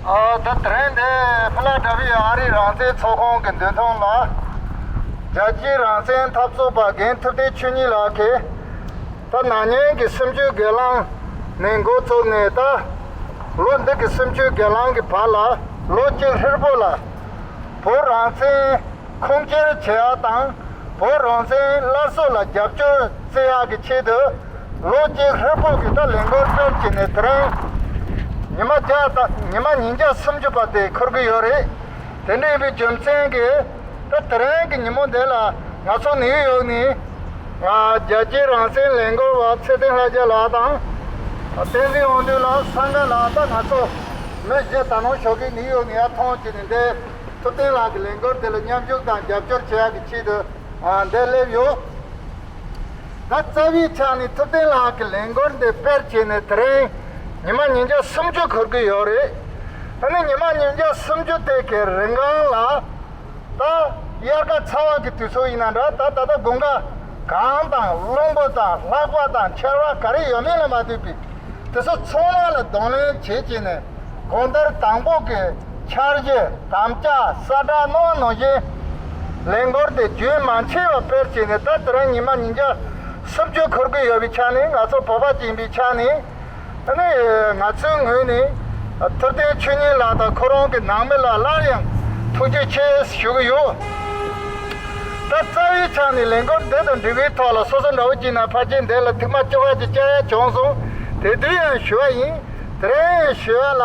ད་དྲན་དེ་ཕི་ལ་ཏཱ་ཕི་ཨ་རིའི་རང་བཙན་ཚོགས་ཁང་གི་མདུན་ཐང་ལ། རྒྱལ་སྤྱིའི་རང་བཙན་འཐབ་རྩོད་པ་རྒན་ཐུབ་བསྟན་ཆོས་ཉིད་ལགས་ཀྱིས། ད་ནང་ཉིན་གྱི་སུམ་ཅུའི་སྒེར་ལངས་ནས་འགོ་བཙུགས་ནས་ད་ལོ་འདི་གི་སུམ་ཅུའི་སྒེར་ལངས་ཀྱི་བར་ལ་ལོ་གཅིག་ཧྲིལ་པོ་ལ། བོད་རང་བཙན། ཁུངས་སྐྱེལ་བྱེད་ཡག་དང་བོད་རང་བཙན་སླར་གསོ་ལ་རྒྱབ་སྐྱོར་བརྩི་ཡག་གི་ཆེད་དུ། ལོ་གཅིག་ལྷོད་ཕུག་གི་ད་ལན་འགོར་སྐྱོར་བྱས་ནས་དེ་རིང་ཉི་མ་བརྒྱ་དང་ཉི་མ་ཉིས་བརྒྱ་སུམ་ཅུ་པ་དེ་འཁོར་གྱི་ཡོད་རེད། དེ་འདྲ་ཡིན་པའི་རྒྱུ་མཚན་གྱིས་ད་དེ་རིང་གི་ཉིན་མོ་འདི་ལ་ང་ཚོ་ནིའུ་ཡོག་ནས། རྒྱལ་སྤྱིའི་རང་བཙན་ལས་འགུལ་བ་ཚེ་བརྟན་ལྷ་རྒྱལ་ལགས་དང། བསྟན་འཛིན་དབང་འདུས་ལགས་ས་འགའ་ལ་ད་ང་ཚོ་མི་བཞི་ད་ནང་ཞོགས་ཀྱི་ནིའུ་ཡོག་ནས་ཡར་ཐོན་བྱས་ནས་འདས། ཐུབ་བསྟན་ལགས་ཀྱི་ལས་འགུལ་དེ་ལ་མཉམ་ཞུགས་དང་རྒྱབ་སྐྱོར་བྱེད་ཡག་གི་ཆེད་དུ་འདས་སླེབས་ཡོད། ད་རྩ་བའི་ཆ་ནས་ཐུབ་བསྟན་ལགས་ཀྱི་ལས་འགུལ་འདི་སྤེལ་བྱས་ནས་དེ་རིང་ཉི་མ་ཉིས་བརྒྱ་སུམ་ཅུ་འཁོར་གྱི་ཡོད་རེད། ད་ནི་ཉི་མ་ཉིས་བརྒྱ་སུམ་ཅུ་དེ་གའི་རིན་གང་ལ་ད་དབྱར་ཁ་ཚ་བ་གི་དུས་ཚོད་ཡིན་ན་འདྲ་ད་ད་ལྟ་དགུན་ཁ་གངས་དང་རླུང་བུ་དང་ལྷགས་པ་དང་འཁྱེར་བ་ག་རེ་ཡོད་མེད་ལ་མ་ལྟོས་པའི་དུས་ཚོད་ཚང་མ་ལ་གདོང་ལེན་བྱེད་བྱས་ནས། གོང་ལྟར་དང་པོ་གི་འཆར་གཞི་དམ་བཅའ་ས་བསྒྲགས་གནང་བ་ནང་བཞིན་ལས་འགོར་དེ་རྒྱུན་མ་ཆད་པར་སྤེལ་བྱས་ནས་ད་ལྟ་རང་ཉིན་མ་ཉིན་བརྒྱ་སུམ་བཅུ་འཁོར་གྱི་ཡོད་པའི་ཆ་ནས་ང་ཚོ་བོད་པ་སྤྱི་འདིའི་ཆ་ནས་ནི་ང་ཚོའི་ངོས་ནས་ཐུབ་བསྟན་ཆོས་ཉིད་ལགས་དང་ཁོ་རང་གི་ནང་མི་ལ་སླར་ཡང་ཐུགས་རྗེ་ཆེ་ཞུ་གི་ཡོད། ད་རྩ་བའི་ཆ་ནས་ལས་འགོར་འདི་དང་འབྲེལ་བའི་ཐོག་ལ་སོ་སོ་འདྲ་བོ་སྐྱིད་ན་ཕར་ཆེར་འདས་ལ་ཐུགས་མ་སྐྱོ་བ་ཅིག་བཅའ་ཡ་བྱུང་སོང་དེ་དུས་ཡང་ཞུ་བ་ཡིན། དེ་རིང་ཞོལ་ལ་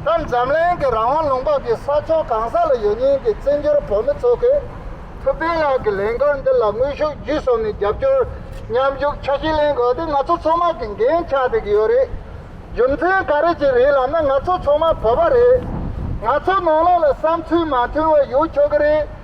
ད་འཛམ་གླིང་གི་རང་དབང་ལུང་པ་གི་ས་ཕྱོགས་གང་ས་ལ་ཡོད་ཉིན་གི་བཙན་བྱོལ་བོད་མི་ཚོ་གིས་ཐུབ་བསྟན་ལགས་ཀྱི་ལས་འགུལ་འདི་ལ་དངོས་ཤུགས་བརྒྱུད་གསུམ་ནས་རྒྱབ་སྐྱོར་མཉམ་ཞུགས་ཆ་ཤས་ལེན་དགོས་དེ་ང་ཚོ་ཚོ་མ་གི་འགན་ཆགས་བསྡད་ཀྱི་ཡོད་རེད་རྒྱུ་མཚན་ག་རེ་གྱི་རེད་ལབ་ན་ང་ཚོ་ཚོ་མ་བོད་པ་རེད་ང་ཚོ་ནང་ལོག་ལ་བསམ་ཚུལ་མ་མཐུན་བ་ཡོད་ཆོག་གི་རེད།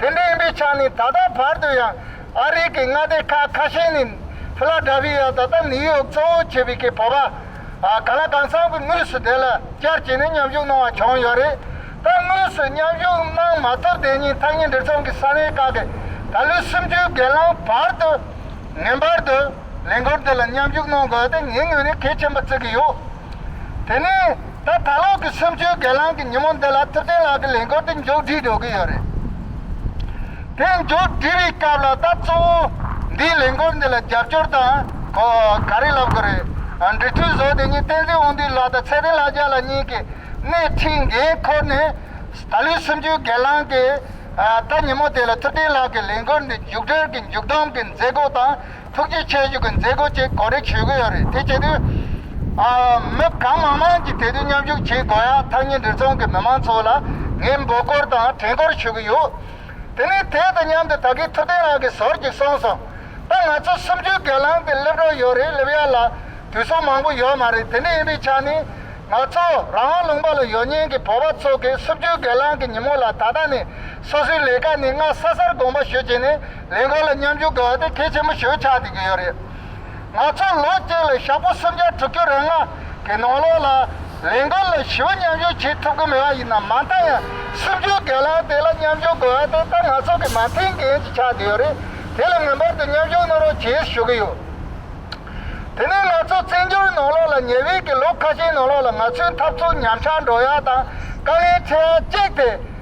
དེ་འདྲ་ཡིན་པའི་ཆ་ནས་ད་ལྟ་བར་དུ་ཡང་ཨ་རིའི་གི་མངའ་སྡེ་ཁག་ཁ་ཤས་ནས་ཕི་ལ་དྲ་བྷི་ཡ་ད་ལྟ་ནིའུ་ཡོག་གཙོ་བོ་བྱས་པའི་གི་བོད་པ་ག་ལ་གང་ཚང་གི་མུས་སུ་དེ་ལ་བཅར་བྱས་ནས་མཉམ་ཞུགས་གནང་བ་བྱུང་ཡོད་རེད་ད་དངོས་སུ་མཉམ་ཞུགས་གནང་མ་ཐུབ་དེ་ཉིན་ཐག་ཉེ་འབྲེལ་ཚོང་གི་ས་གནས་ཁག་གི་ད་ལོའི་སུམ་ཅུའི་སྒེར་ལངས་བར་དུ་ངེས་པར་དུ་ལས་འགུལ་འདི་ལ་མཉམ་ཞུགས་གནང་དགོས་ཏེ་ངའི་ངོས་ནས་གལ་ཆེན་པོ་བརྩི་གི་ཡོད་དེ་ནི། ད་ད་ལོག་གི་སུམ་ཅུའི་སྒེར་ལངས་ཀྱི་ཉིན་མོ་འདི་ལ་ཐུབ་བསྟན་ལགས་ཀྱི་ལས་འགུལ་འདི་མཇུག་སྒྲིལ་འགྲོ་གི་ཡོད་རེད། དེ་མཇུག་སྒྲིལ་བའི་སྐབས་ལ་ད་གཙོ་བོ་འདིའི་ལས་འགུལ་འདི་ལ་རྒྱབ་སྐྱོར་དང་གོ་ག་རེ་ལབ་དགོས་རེད། འབྲི་ཐུལ་བཟོ་དེ་ཉིན་བསྟན་འཛིན་དབང་འདུས་ལགས་དང་ཚེ་བརྟན་ལྷ་རྒྱ་ལགས་གཉིས་ཀྱི་སྣེ་ཁྲིད་འགན་འཁུར་ནས་ད་ལོའི་སུམ་ཅུའི་སྒེར་ལངས་ཀྱི་ད་ཉིན་མོ་དེ་ལ་ཐུབ་བསྟན་ལགས་ཀྱི་ལས་འགུལ་འདི་མཇུག་སྒྲིལ་གྱི་མཇུག་བསྡོམས་ཀྱི་མཛད་སྒོ་དང། ཐུགས་རྗེ་ཆེ་ཞུ་གི་མཛད་སྒོ་བཅས་གོ་སྒྲིག་ཞུས་ཀྱི་ཡོད་རེད་དེ་བྱེད་དུས། མི་གང་མང་མང་གིས་དེ་དུས་མཉམ་ཞུགས་བྱེད་དགོས་ཡ་ཐག་ཉིན་རེ་ཚོང་གི་མི་མང་ཚོ་ལ་ངས་འབོད་སྐོར་དང་དྲན་སྐོར་ཞུ་གི་ཡོད། དེ་ནས་དེ་དང་མཉམ་དུ་ད་གིན་ཐུབ་བསྟན་ལགས་ཀྱི་ཟོར་གྱིས་སོང་སོང་ད་ང་ཚོ་གསུམ་བཅུའི་སྒལ་ལང་དེ་སླེབས་རོགས་ཡོད་རེད་སླེབས་ཡ་ལ་དུས་སོ་མང་པོ་ཡོད་མ་རེད་དེ་འདྲ་ཡིན་པའི་ཆ་ནས་ང་ཚོ་རང་དབང་ལུང་པ་ལ་ཡོད་ཉེན་གྱི་བོད་པ་ཚོ་གིས་གསུམ་བཅུའི་སྒལ་ལང་གི་ཉིན་མོ་ལ་ད་ལྟ་ནས་སོ་སོའི་ལས་ཀ་ནི་སྔ་ས་སར་དགོངས་པ་ཞུ་བྱས་ནས་ལས་ཁང་ལ་མཉམ་ཞུགས་དགོས་བ་དེ་གལ་ཆེན་པོ་ཞོད་ཆགས་བསྡད་ཀྱི་ཡོད་རེད། ང་ཚོ་ལོ་གཅིག་ལ་ཞག་པོ་སུམ་བརྒྱ་དྲུག་ཅུ་རེ་ལྔ་གི་ནང་ལོགས་ལ་ལས་འགུལ་ལ་ཞི་བ་མཉམ་ཞུགས་བྱེད་ཐུབ་ཀྱི་མེད་བ་ཡིན་ནམ་མ་མཐའ་ཡང་སུམ་ཅུའི་སྒལ་ལང་དེ་ལ་མཉམ་ཞུགས་དགོས་བ་དེ་ད་ང་ཚོ་གི་མ་མཐའི་འགན་ཞིག་ཆགས་བསྡད་ཡོད་རེད་དེ་ལ་ངེས་པར་དུ་མཉམ་ཞུགས་གནང་རོགས་བྱེད་ཞུ་གི་ཡོད། དེ་ནས་ང་ཚོ་བཙན་བྱོལ་ནང་ལོགས་ལ་ཉེ་བའི་གི་ལོ་ཁ་ཤས་ནང་ལོགས་ལ་ང་ཚོའི་འཐབ་རྩོད་ཉམས་ཆག་འགྲོ་ཡ་དང་དཀའ་ངལ་ཆེ་བ་གཅིག་དེ།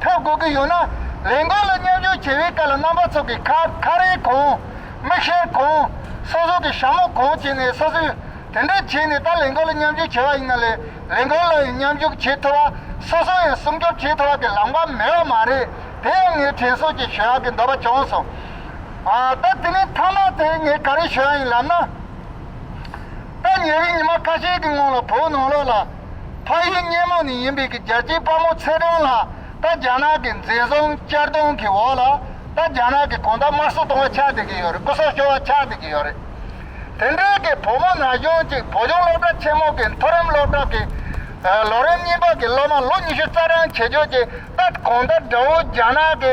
འཐབ་དགོས་ཀྱི་ཡོད་ན། ལས་འགུལ་ལ་མཉམ་ཞུགས་བྱེད་པའི་སྐབས་ལ་རྣམ་པ་ཚོགས་ཀྱི་ཁ་ཁ་རས་གང། མིག་ཤེལ་གང། སོ་སོ་གི་ཞྭ་མོ་གང་བྱས་ནས་སོ་སོས་དེ་འདྲ་བྱས་ནས་ད་ལས་འགུལ་ལ་མཉམ་ཞུགས་བྱས་པ་ཡིན་ན་ལས་ལས་འགུལ་ལ་ཡང་མཉམ་ཞུགས་བྱེད་ཐུབ་པ། སོ་སོ་ཡང་སྲུང་སྐྱོབ་བྱེད་ཐུབ་པ་དེ་ལམ་ཀ་མེད་པ་མ་རེད་དེ་ཡང་ངས་དྲན་གསོ་ཅིག་ཞུ་ཡག་གི་འདོད་པ་བྱུང་སོང། ད་དེ་ནས་མཐའ་མ་དེ་ངས་ག་རེ་ཞུ་ཡག་ཡིན་ལབ་ན། ད་ཉེ་བའི་ཉི་མ་ཁ་ཤས་ཀྱི་སྔོན་ལ་བོད་ནང་ལོགས་ལ། ཕ་ཡུལ་སྙེ་མོ་ནས་ཡིན་པའི་གི་རྒྱལ་གཅེས་དཔའ་མོ་ཚེ་རིང་ལགས་ད་རྒྱ་ནག་གི་འཛིན་བཟུང་གཅར་རྡུང་གི་འོག་ལ་ད་རྒྱ་ནག་གི་གོང་ད་དམར་གསོད་གཏོང་བ་ཆགས་བསྡད་ཀྱི་ཡོད་རེད་སྐུ་སྲོག་ཤོར་བ་ཆགས་བསྡད་ཀྱི་ཡོད་རེད། དེ་འབྲེལ་གི་བུ་མོ་ན་གཞོན་གཅིག་བོད་ལྗོངས་སློབ་གྲྭ་ཆེན་མོ་གི་མཐོ་རིམ་སློབ་གྲྭ་གི། ལོ་རིམ་གཉིས་པ་གི་སློབ་མ་ལོ་ཉི་ཤུ་རྩ་གྲངས་ཆེ་ཆོས་ཀྱིས་ད་གོང་ད་དགྲ་བོ་རྒྱ་ནག་གི།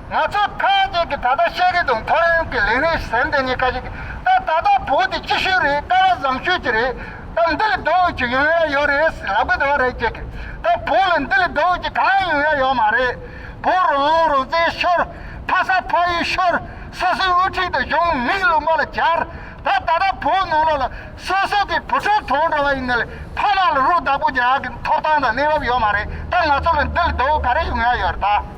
ང་ཚོ་ཐམས་ཅད་ཀྱིས་ད་ལྟ་བཤད་ཀྱི་འདུག་མཐོ་རིམ་གྱི་ལས་རིགས་ཟེར་འདི་གཉིས་ཀ་ཞིག་གིས་ད་ད་ལྟ་བོད་འདི་ཅི་ཞིག་རེད་ཀ་བ་བཟང་ཤོས་ཅིག་རེད་ད་འདི་ལས་ལྡོག་འོས་ཅིག་ཡོང་ཡ་ཡོད་རེད་ལབ་གི་འདུག་རེད་ཅེས་གིས་ད་བོད་ལ་འདི་ལས་ལྡོག་འོས་ཅིག་གང་ཡང་ཡོང་ཡ་ཡོད་མ་རེད། བོད་རོགས་རླུང་རོགས་རྩེད་ཤོར། ཕ་ས་ཕ་ཡུལ་ཤོར། སོ་སོའི་དབུ་ཁྲིད་དང་གཞུང་མིག་ལུང་པ་ལ་སྦྱར། ད་ད་ལྟ་བོད་ནང་ལོགས་ལ་སོ་སོ་གིས་བུ་ཕྲུག་ཐོན་འགྲོ་བ་ཡིན་ན་ལས་ཕ་མ་ལ་རུ་བདག་པོ་རྒྱག་གི་ཐོབ་ཐང་དང་གནས་བབ་ཡོད་མ་རེད་ད་ང་ཚོ་ལ་འདི་ལས་ལྡོག་འོས་ག་རེ་ཡོང་ཡ་ཡོད་རེད་ད།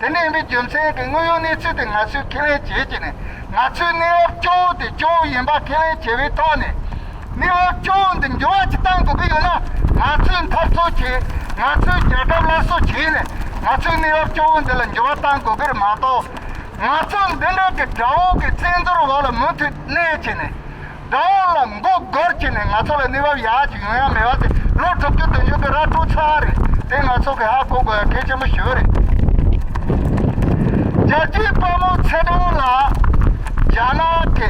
དེ་ནས་མི་རྒྱུ་མཚན་གྱི་དངོས་ཡོད་གནས་ཚུལ་དེ་ང་ཚོས་ཁས་ལེན་བྱེད་ཀྱི་ནི་ང་ཚོའི་གནས་བབ་སྐྱོ་བོ་དེ་སྐྱོ་བོ་ཡིན་པ་ཁས་ལེན་བྱས་པའི་ཐོག་ནས། གནས་བབ་སྐྱོ་བོ་འདི་འགྱུར་བ་ཅིག་གཏང་དགོས་ཀྱི་ཡོད་ན་ང་ཚོས་འཐབ་རྩོད་བྱེད། ང་ཚོས་རྒྱལ་ཁབ་སླར་གསོ་བྱས་ནས་ང་ཚོའི་གནས་བབ་སྐྱོ་བོ་འདི་ལ་འགྱུར་བ་གཏང་དགོས་ཀྱི་རེད་མ་གཏོགས། ང་ཚོ་འདི་འདྲ་གི་དགྲ་བོ་གི་བཙན་འཛུལ་འོག་ལ་མུ་མཐུད་གནས་ཀྱི་ནི། དགྲ་བོ་ལ་མགོ་སྒོར་བྱས་ནས་ང་ཚོ་ལ་གནས་བབ་ཡག་ཅིག་ཡོང་ཡ་མེད་བ་དེ་ལོ་དྲུག་ཅུ་དོན་བྱུང་གི་ར་སྤྲོད་ཚར་བ་རེད་དེ་ང་ཚོ་གི་ཧ་གོ་དགོས་ཡ་གལ་ཆེན་པོ་ཞིག་རེད། རྒྱལ་སྤྱིའི་དཔའ་མོ་ཚེ་དབང་ལགས། རྒྱ་ནག་གི་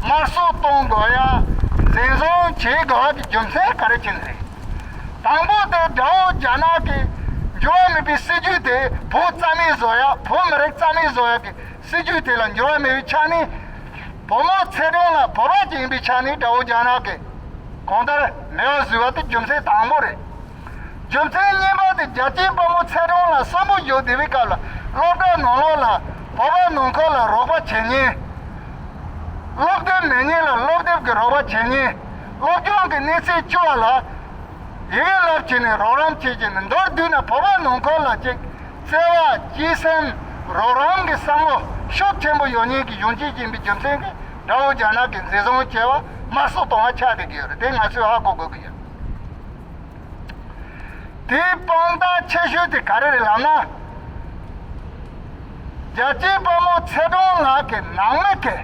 དམར་གསོད་གཏོང་དགོས་ཡ་འཛིན་བཟུང་བྱེད་དགོས་བ་གི་རྒྱུ་མཚན་ག་རེ་ཅན་རེད། དང་པོ་དེ་དགྲ་བོ་རྒྱ་ནག་གི་འགྱུར་བ་མེད་པའི་སྲིད་ཇུས་དེ་བོད་རྩ་མེད་བཟོ་ཡ་བོད་མི་རིགས་རྩ་མེད་བཟོ་ཡ་གི་སྲིད་ཇུས་དེ་ལ་འགྱུར་བ་མེད་པའི་ཆ་ནས། བོད་དམག་ཚད་གྲངས་ལ་བོད་རང་སྐྱིད་ཡིན་པའི་ཆ་ནས་དགྲ་བོ་རྒྱ་ནག་གིས་གང་ལྟར་མེ་བ་བཟོས་པ་དེ་རྒྱུ་མཚན་དང་པོ་རེད། རྒྱུ་མཚན་གཉིས་པ་དེ་རྒྱལ་སྤྱིའི་དཔའ་མོ་ཚད་གྲངས་ལ་གསོན་པོ་བཞུགས་བསྡད་པའི་སྐབས་ལ་སློབ་གྲྭ་ནང་ལོགས་ལ་བོད་པ་ནང་ཁུལ་ལ་རོགས་པ་བྱེད་ཉེན། སློབ་དེབ་མེད་ཉེན་ལ་སློབ་དེབ་ཀྱི་རོགས་པ་བྱེད་ཉེན། སློབ་སྦྱོང་གི་གནས་ཚད་སྐྱུར་བ་ལ་ཡི་གེ་བསླབ་བྱས་ནས་རོགས་རམ་བྱེད་ཀྱི་མི་འདོར་དུས་ན་བོད་པ་ནང་ཁུལ་ལ་གཅིག་བརྩེ་བ། སྐྱིད་སེམས། རོགས་རམ་གྱི་བསམ་བློ་ཤུགས་ཆེན་པོ་ཡོང་ཉེན་གྱི་ཡོང་ཅི་བྱེད་མི་རྒྱུ་མཚན་གྱིས་དགྲ་བོ་རྒྱ་ནག་གི་འཛིན་བཟུང་བྱས་པ་དམར་གསོད་གཏོང་བ་ཆགས་བསྡད་ཀྱི་ཡོད་རེད་དེ་ང་ཚོས་ཧ་གོ་དགོས་ཀྱི་ཡོད། དེའི་དཔང་རྟགས་ཆེ་ཤོས་དེ་ག་རེ་རེད་ལབ་ན། རྒྱལ་གཅེས་དཔའ་མོ་ཚེ་སྒྲོན་ལགས་ཀྱི་ནང་མི་དེ།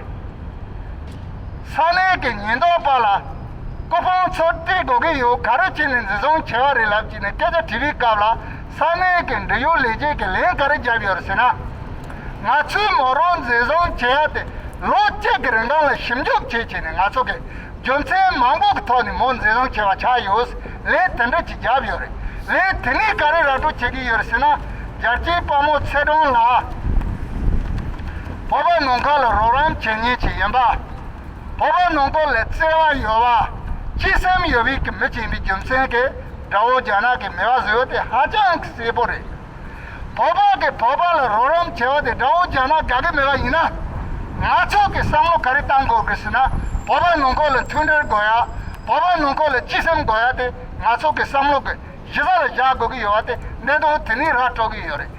ས་གནས་ཀྱི་ཉེན་རྟོག་པ་ལ་སྐུ་ཕུང་ཚོར་སྤྲད་དགོས་ཀྱི་ཡོད་ག་རེ་བྱས་ནས་འཛིན་བཟུང་བྱས་པ་རེད་ལབ་ཅེས་ནས་སྐད་ཆ་དྲིས་པའི་སྐབས་ལ་ས་གནས་ཀྱི་འབྲེལ་ཡོད་ལས་བྱེད་ཀྱིས་ལན་ག་རེ་བརྒྱབ་ཡོད་ཟེར་ན། ང་ཚོའི་མོ་རོ་འཛིན་བཟུང་བྱས་ཡ་དེ་ལོ་གཅིག་གི་རིན་ཐང་ལ་ཞིབ་འཇུག་བྱེད་བྱས་ནས་ང་ཚོ་གིས་རྒྱུ་མཚན་མང་པོ་གི་ཐོག་ནས་མོ་འཛིན་བཟུང་བྱས་པ་ཆགས་ཡོད་ལན་དེ་འདྲ་ཅིག་བརྒྱབ་ཡོད་རེད། ལན་དེ་ནས་ག་རེ་ར་སྤྲོད་བྱེད་ཀྱི་ཡོད་ཟེར་ན། རྒྱལ་སྤྱིའི་དཔའ་མོ་ཚེ་སྒྲོན་ལགས། བོད་པ་ནང་ཁ་ལ་རོགས་རམ་བྱེད་ཉེན་ཅིག་ཡིན་པ། བོད་པ་ནང་པོ་ལས་བརྩེ་བ་ཡོད་པ། སྤྱི་སེམས་ཡོད་པའི་མི་བྱིངས་པའི་རྒྱུ་མཚན་གྱིས་དགྲ་བོ་རྒྱ་ནག་གི་མེས་པ་བཟོས་དེ་ཧ་ཅང་གི་གསལ་པོ་རེད། བོད་པ་གིས་བོད་པ་ལ་རོགས་རམ་བྱེད་པ་དེ་དགྲ་བོ་རྒྱ་ནག་དགའ་གི་མེད་པ་ཡིན་ན། ང་ཚོ་གིས་བསམ་བློ་ག་རེ་བཏང་དགོས་གི་ཟེར་ན་བོད་པ་ནང་པོ་ལ་མཐུན་སྒྲིལ་དགོས་ཡ། བོད་པ་ནང་པོ་ལ་སྤྱི་སེམས་དགོས་ཡ་དེ་ང་ཚོ་གིས་བསམ་བློ་གི་གཞི་རྩ་ལ་བཞག་དགོས་གི་ཡོད་པ་དེ་གནད་དོན་དེ་ནས་རག་གྲོལ་གི་ཡོད་རེད།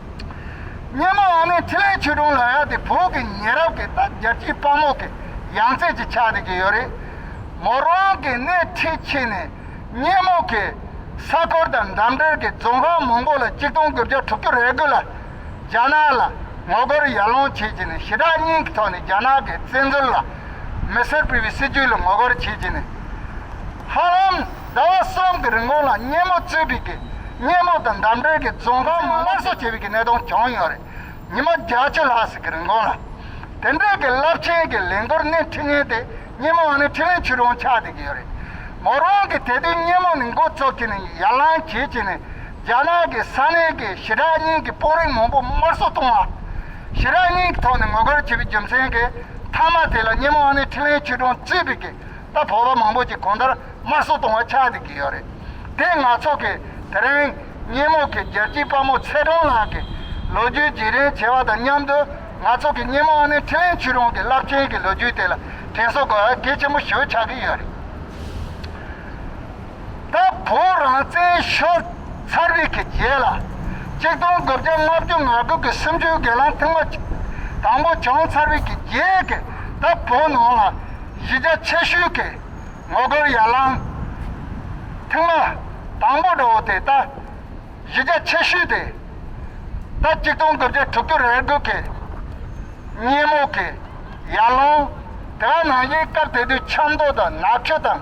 སྙེ་མོ་ཨ་མའི་ཐིག་ལེའི་ཆུ་དྲོངས་ལ་ཡག་དེ་བོད་ཀྱི་ཉེ་རབས་ཀྱི་རྟ་རྒྱལ་སྐྱིད་དཔའ་མོ་གི་ཡང་རྩེ་གཅིག་ཆགས་འདི་གི་ཡོད་རེད། མོ་རང་གི་སྣེ་ཁྲིད་ཕྱིན་ནས་སྙེ་མོ་གི་ས་ཁོར་དང་འགྲམ་འདྲེར་གྱི་རྫོང་ཧྭ་མོང་གོ་ལ་གཅིག་སྟོང་དགུ་བརྒྱ་དྲུག་ཅུ་རེ་དགུ་ལ་རྒྱ་ནག་ལ་ངོ་རྒོལ་ཡར་ལངས་བྱེད་ཀྱི་ནས་ཞི་དྲག་གཉིས་ཀྱི་ཐོག་ནས་རྒྱ་ནག་གི་བཙན་འཛུལ་ལ་མི་སེར་སྤེལ་བའི་སྲིད་ཇུས་ལ་ངོ་རྒོལ་བྱེད་ཀྱི་ནས་ཧ་ལམ། ཟླ་བ་གསུམ་གྱི་རིང་གོང་ལ་སྙེ་མོ་རྩིས་སྤྲིད་ཀྱིས་སྙེ་མོ་དང་འདབས་འབྲེལ་གྱི་རྫོང་ཁང་མང་སླར་གསོ་བྱེད་པའི་གནད་དོན་བྱུང་ཡོད་རེད། ཉི་མ་བརྒྱ་བཅུ་ལྷག་ཟིན་གྱི་རིང་གོང་ལ། དེ་འབྲེལ་གྱི་རླབས་ཆེན་གྱི་ལས་འགུལ་སྣེ་ཁྲིད་མཁན་དེ་སྙེ་མོ་བ་ནི་ཁྲི་བོན་ཆུས་རོང་ཆགས་བསྡད་ཀྱི་ཡོད་རེད། མོ་རང་གིས་དེ་དུས་སྙེ་མོ་ནི་འགོ་གཙོ་བྱས་ནས་ཡར་ལངས་བྱེད་ཅེས་ནས་རྒྱ་ནག་གི་ས་གནས་ཀྱི་ཞི་དྲག་གཉིས་ཀྱི་དཔོན་རིགས་མང་པོ་དམར་གསོད་བཏང་བ། ཞི་དྲག་གཉིས་ཀྱི་ཐོག་ནས་ངོ་རྒོལ་བྱས་པའི་རྒྱུ་མཚན་གྱིས་མཐའ་མ་དེ་ལ་སྙེ་མོ་བ་ནི་ཁྲི་བོན་ཆུས་རོང་རྩིས་སྤྲིད་ཀྱིས་ད་བོད་པ་མང་པོ་ཅིག་གོང་ལྟར་དམར་གསོད་གཏོང་བ་ཆགས་འདི་གི་ཡོད་རེད། དེ་ནག་ཚོགས་ཀྱི་དེ་རིང་སྙེ་མོ་གི་རྒྱལ་སྤྱིའི་དཔའ་མོ་ཚེ་སྒྲོན་ལགས་ཀྱི་ལོ་རྒྱུས་བརྗེ་རེས་བྱེད་པ་དང་མཉམ་དུ་ནག་ཚོགས་ཀྱི་སྙེ་མོ་ཨ་ནེ་ཁྲི་ལེན་ཆུས་རོང་གི་རླབས་ཆེན་གྱི་ལོ་རྒྱུས་དེ་ལ་དྲན་གསོ་དགོས་པ་གལ་ཆེན་པོ་ཞུ་ཆགས་ཀྱི་ཡོད་རེད། ད་བོད་རང་བཙན་ཤོར་ཚར་བའི་གི་རྗེས་ལ་གཅིག་སྟོང་དགུ་བརྒྱ་ལྔ་བཅུ་ང་དགུ་གི་སུམ་ཅུའི་སྒེར་ལངས་ཐེངས་པ་གཅིག་དང་པོ་བྱུང་ཚར་བའི་གི་རྗེས་ཀྱི་ད་བོད་ནང་ལ། གཞི་རྒྱ་ཆེ་ཤོས་ཀྱི་ངོ་རྒོལ་ཡར་ལངས། ཐེངས་མ། དང་པོ་འགྲོ་བ་དེ་ལྟ། གཞི་རྒྱ་ཆེ་ཤོས་དེ། ཟླ་གཅིག་སྟོང་དགུ་བརྒྱ་དྲུག་ཅུ་རེར་དགོས་ཀྱི། སྙེ་མོ་ཀྱི། ཡར་ལངས། དེ་བ་ནང་བཞིན་སྐབས་དེ་དུས་ཆབ་མདོ་དང་ནག་ཆུ་དང།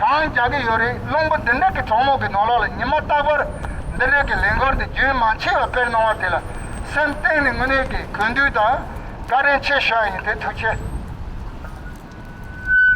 གང་རྒྱག་གི་ཡོད་རེད་བླུན་པོ་འདི་འདྲ་གི་གྲོགས་མོག་གི་ནོར་ལག་ལ་ཉི་མ་རྟག་པར་འདི་འདྲ་གི་ལས་འགོར་འདི་རྒྱུན་མ་ཆད་པ་དཔེར་གནང་བ་དེ་ལ་སེམས་གཏིང་ནས་དངོས་གནས་གི་གུས་འདུད་དང་བཀའ་དྲིན་ཆེ་ཞུ་བ་ཡིན་དེ་ཐུགས་ཆེ།